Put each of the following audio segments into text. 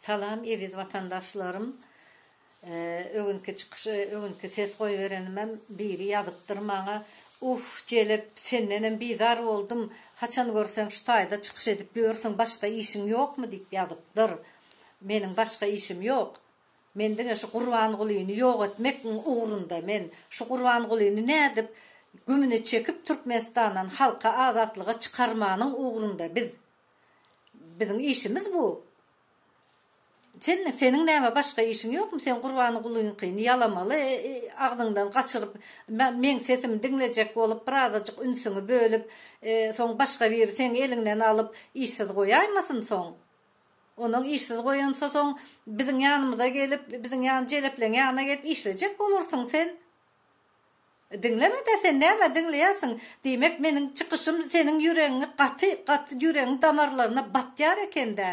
Salam eziz watandaşlarym öňki çykyş öňki ses goýberenimem biri ýazypdyr maňa uff jelep sendenem bizar boldum haçan görseň şu taýda çykyş edip ýörsüň başga işiň ýokmy diýip ýazypdyr meniň başga işim ýok men diňe şu gurbangulyny ýok etmekň ugrunda men şu gurbangulyny nädip gümüne çekip türkmenistandan halky azatlyga çykarmanyň ugrunda biz Biziň işimiz bu. Sen, seniň näme başga işiň ýokmy? Sen Gurbangulynyňkyny ýalamaly, agzyňdan gaçyryp, meň sesimi diňlejek bolup, birazajyk ünsüňi bölüp, soň başga biri seň eliňden alyp, işsiz goýaýmasyn soň? Onuň işsiz goýansa, soň biziň ýanymyza gelip, biziň ýan jelepleň ýanyna gelip işlejek bolarsyň sen. Diňlemede sen näme diňleýärsiň? Diýmek meniň çykyşym seniň ýüregiňi gaty gaty ýüregiň damarlaryna batýar ekendä?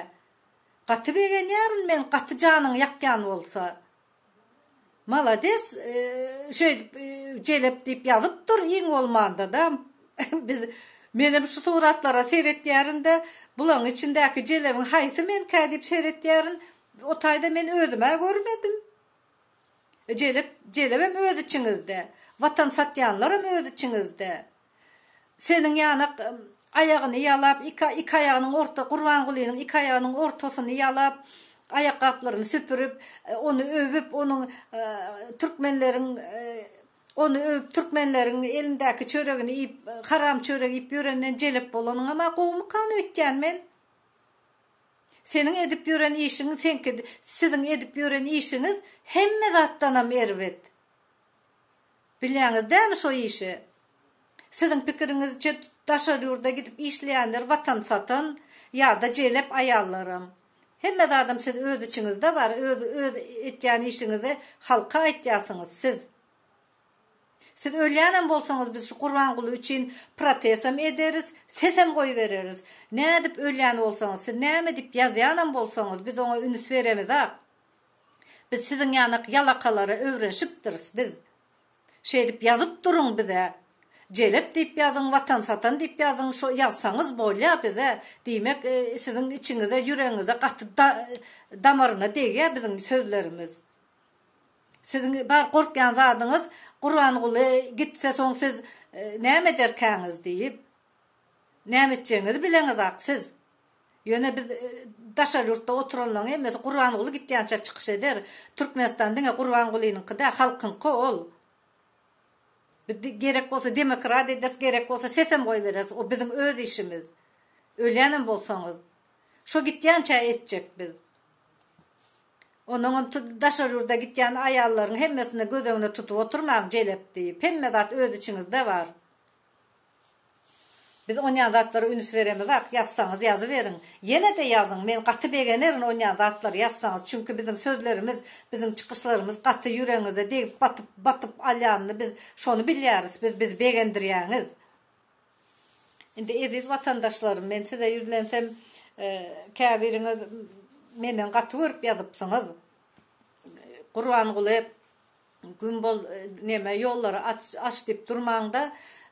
Gaty begenýärin men gaty janyňy ýakýan bolsa. Malades şeýdip jelep diýip ýazyp dur iň bolmandada biz menem şu suratlara seretýärin-de bulaň içindäki jelebiň haýsy menkä diýip seretýärin o taýda men özümä görmedim. Jelep, jelebem öz içiňizde. Watan satýanlaram öz içiňizde. Seniň ýanak aýagyny ýalap, iki iki aýagynyň orta, Gurbangulynyň iki aýagynyň ortasyny ýalap, aýakgaplaryny süpürip, ony öwüp, onuň türkmenleriň ony öwüp, türkmenleriň elindäki çöregini iýip, haram çörek iýip ýörenden jelep bolanyňam-a gowumykan öýtýän men? Seniň edip ýören işiň seňki siziň edip ýören işiňiz hemme zatdanam erbet. Bilýäňiz dämi şo işi? Siziň pikiriňizçe daşary ýurda gidip işleýänler watan satan ýada jelep aýallaram. Hemme zadam siz öz içiňizde bar öz öz etýän işiňizi halka aýtýasyňyz siz. Siz ölýänem bolsaňyz biz şu Gurbanguly üçin protesem ederis, sesem goýbereris. Nädip ölýän bolsaňyz, siz näme diýip ýazýanam bolsaňyz biz oňa üns beremizak. Biz siziň ýanak ýalakalara öwrenşipdiris biz. Şeýdip ýazyp duruň bize. Jelep diýip ýazyň, watan satan diýip ýazyň, şo ýazsaňyz bolýa bize. Diýmek siziň içiňize, ýüregiňize gaty damaryna degýä biziň sözlerimiz. Siziň bar gorkýan zadyňyz Gurbanguly gitse soň siz näme ederkäňiz diýip. Näme etjegiňizi bileňizak siz. Ýöne biz daşary ýurtda oturanlaryň hemmesi Gurbanguly gitýänçä çykyş eder. Türkmenistan diňe Gurbangulynyňky däl halkyňky ol. Biz gerek bolsa demokrat ederis gerek bolsa sesem goýbereris o biziň öz işimiz. Ölýänem bolsaňyz. Şo gitýänçä etjek biz. Onuňam daşary ýurda gitýän aýallaryň hemmesini göz öňüne tutup oturmaň, jelep diýip. Hemme zat öz içiňizde bar. Biz onýan zatlara üns beremizak. Ýazsaňyz ýazyberiň. Ýene-de ýazyň. Men gaty begenerin onýan zatlary ýazsaňyz. Çünki biziň sözlerimiz, biziň çykyşlarymyz gaty ýüregiňize degip, batyp, batyp alýanyny biz şony bilýäris. Biz bizi begendirýäňiz. Indi eziz watandaşlarym men size ýüzlensem käbiriňiz menden gaty görüp ýazypsyňyz Gurbanguly güm bol neme ýollary aç diýip durmaňda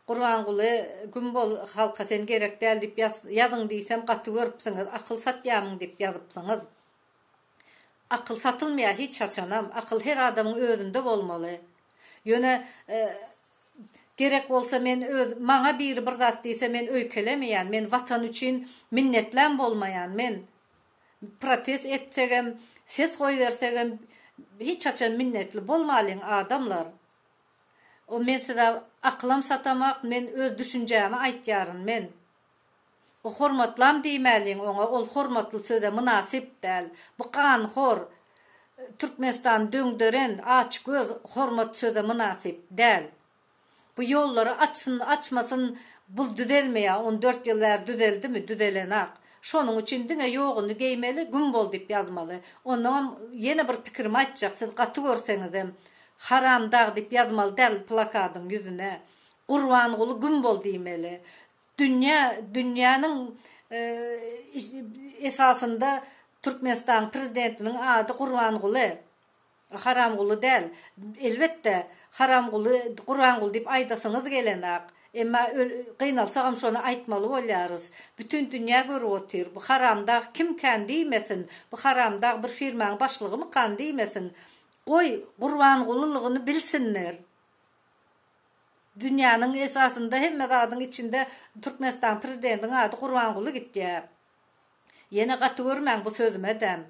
Gurbanguly güm bol halka sen gerek däl diýip ýazyň diýsem gaty görüpsiňiz akyl satýamyň diýip ýazypsyňyz akyl satylmaýar hiç haçanam akyl her adamyň özünde bolmaly ýöne Gerek bolsa men öz maňa biri bir zat diýse men öýkelemeýän, men watan üçin minnetläm bolmaýan men protest etsegem ses goýbersegem hiç haçan minnetli bolmalyň adamlar o men size akylam satamak men öz düşünjämi aýtýaryn men O hormatlam diýmäliň oňa ol hormatly söze mynasyp däl. Bu ganhor Türkmenistany döňderen aç göz hormat söze mynasyp däl. Bu ýollary açsyn açmasyn bul düzelmeýä on dört ýyl bäri düzeldimi düzelenak. Şonuň üçin diňe ýoguny geýmeli güm bol diýip ýazmaly. Onnoňam ýene bir pikirim aýtjak siz gaty görseňizem haramdag diýip ýazmaly däl plakadyň ýüzüne. Gurbanguly güm bol diýmeli. Dünýä dünýäniň esasynda Türkmenistanyň prezidentiniň ady Gurbanguly. Haramguly däl. Elbetde, Haramguly, Gurbanguly diýip aýdasyňyz gelenok. Emma gynalsagam şony aýtmaly bolýarys. Bütin dünýä görüp otyr. Bu haramdag kim kän diýmesin. Bu haramdag bir firmaň başlygymykan diýmesin. Goý, Gurbangulylygyny bilsinler. Dünýäniň esasynda hemme zadyň içinde Türkmenistanyň prezidentiň ady Gurbanguly gitýä. Ýene gaty görmäň bu sözümedem.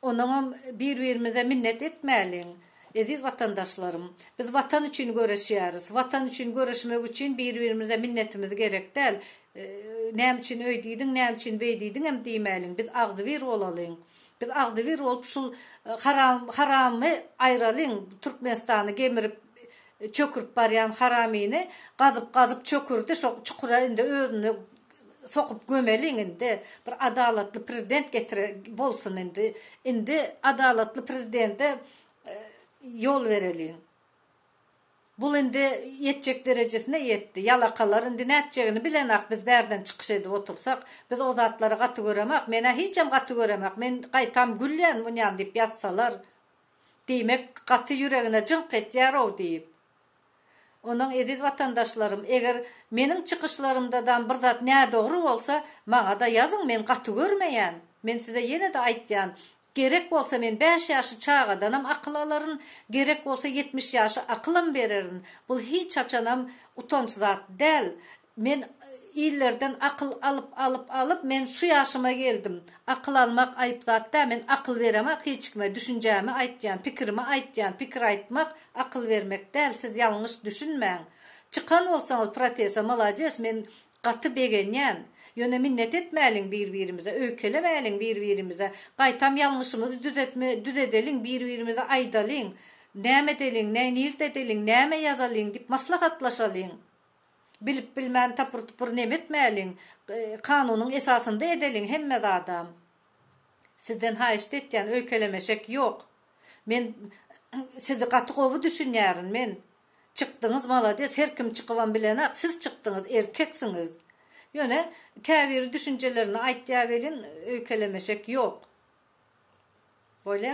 Onuňam bir birimize minnet etmäliň eziz watandaşlarym. Biz watan üçin göreşýäris. Watan üçin göreşmek üçin bir birimize minnetimiz gerek däl. Näme üçin öýdidiň näme üçin beýdidiňem diýmäliň biz agzybir bolalyň. Biz agzybir bolup şul haram haramy aýralyň türkmenistany gemirip çökürip barýan haramyny gazyp gazyp çökürdi şo çukura indi özüni sokup gömeliň indi bir adalatly prezident getire bolsun indi indi adalatly prezidente ýol bereliň. Bul indi ýetjek derejesine ýetdi. Ýalakalar indi nätjegini bilenak biz bärden çykyş edip otursak. Biz o zatlary gaty göremak. Menä hiçem gaty göremak. Men gaýtam gülýän munýan diýip ýazsalar. Diýmek gaty ýüregine jyňk etýärow diýip. Ondan eziz watandaşlarym eger meniň çykyşlarymdadam bir zat nädogry bolsa maňada ýazyň men gaty görmeýän. Men size ýenede aýtýan Gerek bolsa men bäş ýaşy çagadanam akyl alaryn, gerek bolsa ýetmiş ýaşy akylam bererin. Bul hiç haçanam utanç zat däl. Men illerden akyl alyp alyp alyp men şu ýaşyma geldim. Akyl almak aýyp zat däl. Men akyl beremak hiç kime. Düşünjämi aýtýan, pikirimi aýtýan. Pikir aýtmak akyl bermek däl. Siz ýalňyş düşünmäň. Çykan bolsaňyz protese, malades, men Gaty begenýän. Ýöne minnet etmäliň bir-birimize, öýkelemäliň bir-birimize. Gaýtam ýalňyşymyzy düzetme düzedeliň, bir-birimize aýdalyň. Näme edeliň, näý nirde edeliň, näme ýazalyň diýip maslahatlaşalyň. Bilip-bilmän tapyr-tupur neme etmäliň. Kanunyň esasynda edeliň hemme zadam. Sizden haýyşt etýän, öýkelemeşek ýok. Men Sizi gaty gowy düşünýärin. Men Çykdyňyz malades her kim çykybam bilenak siz çykdyňyz erkeksiňiz ýöne käbiri düşünjelerini aýtýa welin öýkelemeşek ýok boýla.